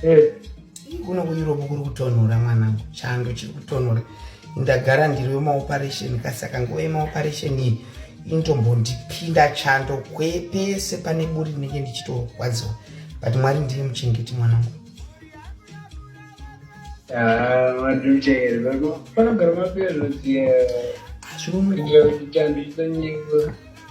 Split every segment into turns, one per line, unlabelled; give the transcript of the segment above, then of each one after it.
Eh, kuno kueurope kuri kutonhora mwanangu chando chiri kutonhora ndagara ndiri wemaoperation kasi saka nguva yemaoperation iyi inotombondipinda chando kwepese pane buri ndinenge ndichitorwadziwa but mwari ndiye muchengeti mwanangu hazvinomuiaa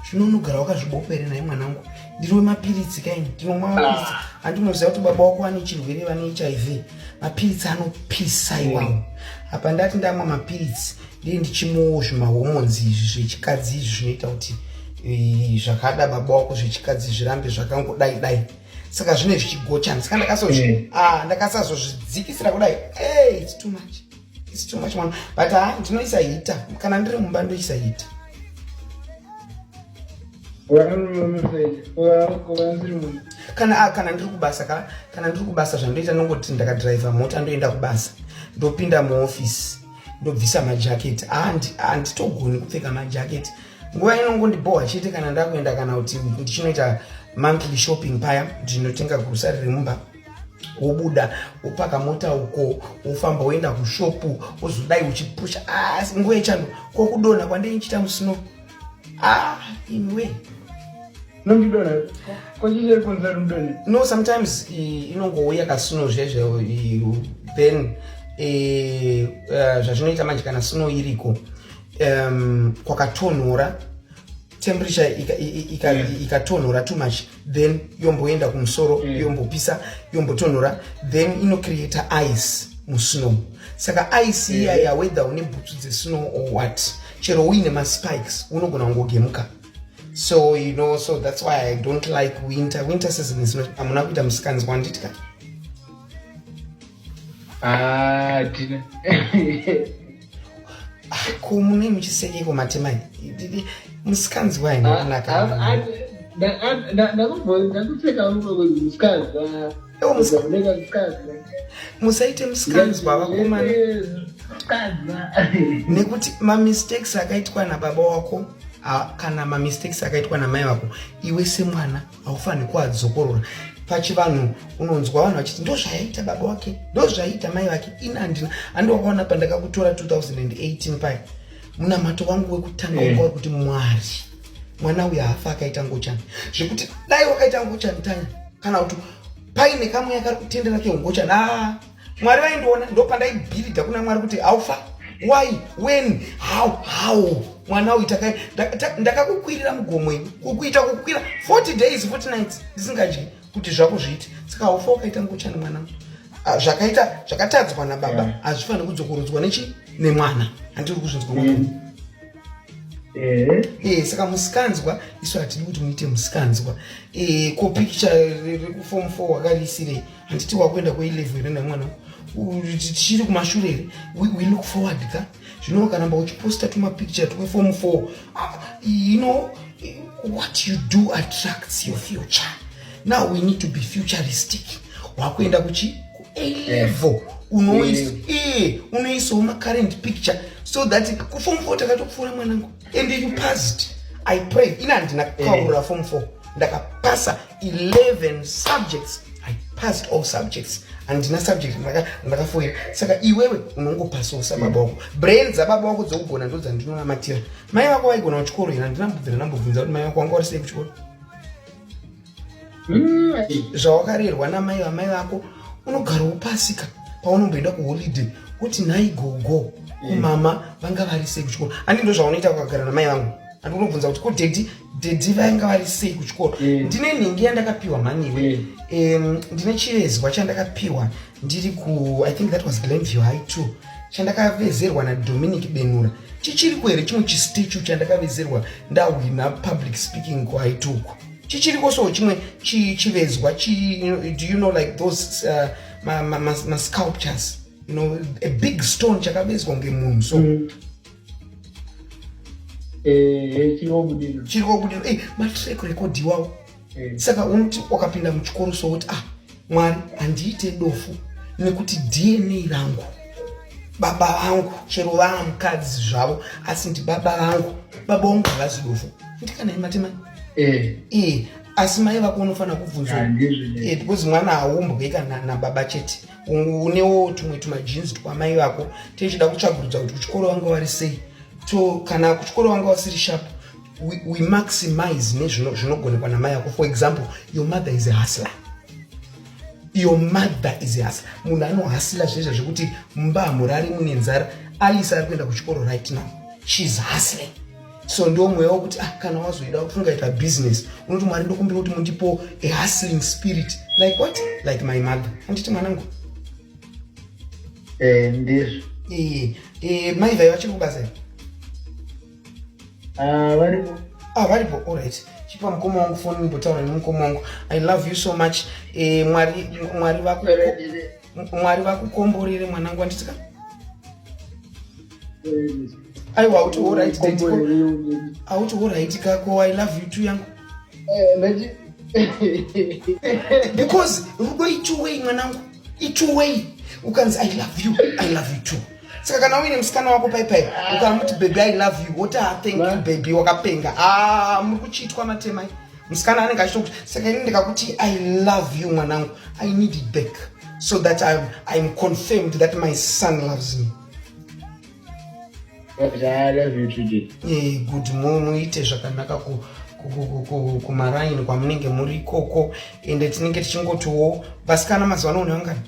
zvino unogara wakazvibopa here naye mwanangu ndiri wemapiritsi kaini ndinomwa mapiritsi handi unoziva kuti baba wako vane chirwere vane hiv mapiritsi anopisa iwawo mm. apa ndati ndamwa mapiritsi ndee ndichimwawo zvimahormonzi izvi zvechikadzi izvi zvinoita kuti eh, zvakada baba wako zvechikadzi zvirambe zvakangodai dai saka zvine zvichigochana saka ndakasazozvidzikisira mm. ah, kudai its too much It's too much one. But ha ah, ndinoisa hita. Kana ndiri mumba ndoisa hita. Kana a ah, kana ndiri kubasa ka kana ndiri kubasa zvandoita nongoti ndakadriver mota ndoenda kubasa. Ndopinda muoffice. Ndobvisa majaketi. Ah, ah nditogoni kupfeka majaketi. Nguva inongondibhowa chete kana ndakuenda kana kuti ndichinoita monthly shopping paya ndinotenga grocery remumba. wobuda wopaka mota uko wofamba woenda kushopu wozodai uchipusha asi ah, nguva yechando kokudonha kwandei ndichiita musino ah, imiwe nondidonha kochicheri kunza rimudonhe no sometimes inongouya kasino zvezve then eh, eh, zvazvinoita manje kana sino iriko kwakatonhora temperature ikatonhora too much then yomboenda kumusoro mm. yombopisa yombotonhora then inocreata ice musnow saka ice iya mm. yawedha une bhutsu dzesnow or what chero uine maspikes unogona kungogemuka so you know so that's why i don't like winter winter season is not amuna kuita musikanzwa anditika ah, Ah, ko munei muchisekeko matemai musikanzi wai makunaka musaite musikanzwa vakomana nekuti mamistakes akaitwa nababa wako kana mamistakes akaitwa namai vako iwe semwana haufanirwi kuadzokorora pachivanhu unonzwa vanhu vachiti ndo zvaiita baba wake ndo zvaiita mai vake ini handina handi wakaona pandakakutora 2018 paya munamato wangu wekutanga wanga eh. kuti mwari mwana uyu haafa akaita ngochani zvekuti dai wakaita ngochani tanya kana kuti paine kamweya kari kutendera keungochani aa ah, mwari vaindiona ndopandaibhiridha kuna mwari kuti haufa why when how how mwana uyu ndakakukwirira mugomo ini kukuita kukwira 40 days 40 nights ndisingadyi kuti zvako zviiti saka haufa wakaita ngochani mwana ah, zvakaita zvakatadzwa nababa hazvifaniri yeah. kudzokorodzwa nechi nemwana handiri kuzvinzwa mm. Eh. eh, saka musikanzwa isu hatidi kuti muite musikanzwa eh, ko pikicha rekufom four wakariisirei handiti wakuenda kuilevu here nemwana tichiri kumashure here we look forward ka zvino wakaramba uchiposta tumapicture twefomu four ah, you know what you do attracts your future now we need to be futuristic wakuenda kuchi kualevel eh. unoisa eh, unoisawo macurrent picture so that kufomu four takatopfuura mwanangu and you passed i pray ina handina eh. kukaura fomu four ndakapasa 11 subjects i passed all subjects handina subject ndakafoira saka iwewe unongopasawo sababa wako brain dzababa wako dzokugona ndo dzandinonamatira mai vako vaigona kuchikoro here handina mbobvira ndambobvunza kuti mai vako wanga uri sei kuchikoro mm. zvawakarerwa namai vamai vako unogara upasika paunomboenda kuholiday kuti nhai gogo kumama mm. vanga vari sei kuchikoro handi ndo zvaunoita kukagara namai vangu handi unobvunza kuti kudhedhi dhedhi vainga vari sei kuchikoro eh. ndine nhingi yandakapiwa mhaniwe eh. ndine chivezwa chandakapiwa ndiri ku i think that was glenview high two chandakavezerwa nadominic benura chichiri kuhere chimwe chistichu chandakavezerwa ndahwina public speaking kuhigh two uko chichiri kosowo chimwe chivezwa do you know like those uh, masculptures you know a big stone chakavezwa ngemunhu so mm. Eh, chirikobudiro chirikobudiro ei eh, matrack record iwawo eh. saka unoti wakapinda muchikoro sokuti ah mwari handiite dofu nekuti dna rangu baba vangu chero vaa mukadzi zvavo asi ndi baba vangu baba vangu havazi dofu ndikana imatemai ee eh. asi mai vako unofanira kubvunzwa because mwana haumbwe kana nababa chete unewo tumwe tumajeans twamai vako tichida kutsvagurudza kuti kuchikoro vanga vari sei so kana kuchikoro vanga vasiri sharp we, we maximize nezvinogonekwa namai vako for example your mother is a hustler your mother is a hustler munhu anohasila zvezva zvekuti mumba hamurari mune nzara alisa ari kuenda kuchikoro right now sheis hustling so ndo mweya wokuti ah, kana wazoida kuti ungaita business unoti mwari ndokumbira kuti mundipo a hustling spirit like what like my mother anditi mwanangu eh, ndizvo eh, eh, mai vhai vachiri kubasa i ah, varipo ah, varipo all right chipa mukoma wangu foni mbotaura nemukoma wangu i love you so much eh, mwari mwari vako mwari vakukomborere mwanangu wanditika aiwa auti horit auti horit kako i love you tu yangu eh, because rudo ichuwei mwanangu ichuwei ukanzi i love you i love you too saka kana uine musikana wako paipai ukana muti baby i love you woti ha ah, thank you baby wakapenga a ah, muri kuchiitwa matemai musikana anenge achitokuti saka ini ndikakuti i love you mwanangu i need it back so that I'm, I'm confirmed that my son loves me eh, good muite zvakanaka kumaraini kwamunenge muri ikoko ende tinenge tichingotiwo vasikana mazuva ano unevangani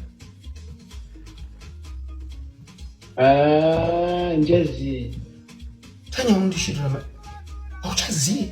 ah, njazi tanya undishirira auchazivi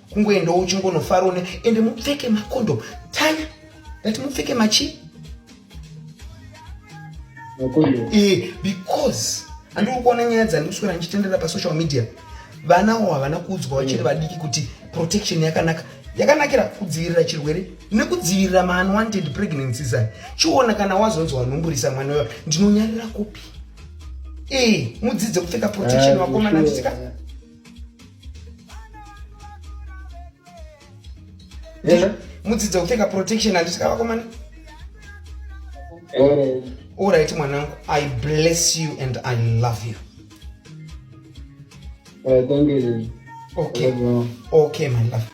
kungoendawo uchingonofarawo ne ende mupfeke makondom tanya ndati mupfeke machi e, because andiri kuona nyaya dzandikuswera ndichitendera pasocial media vana wo havana kuudzwa vachiri mm. vadiki kuti protection yakanaka yakanakira kudzivirira chirwere nekudzivirira maunwanted pregnancies aya chiona kana wazonzi wanhumburisa mwana uyo ndinonyarira kupi e mudzidze kupfeka protection ah, vakomana nditika Yezvo mudzidza kupfeka protection handisika vakomana. Eh. All right mwanangu, I bless you and I love you. Eh, thank you. Okay. Okay, my love.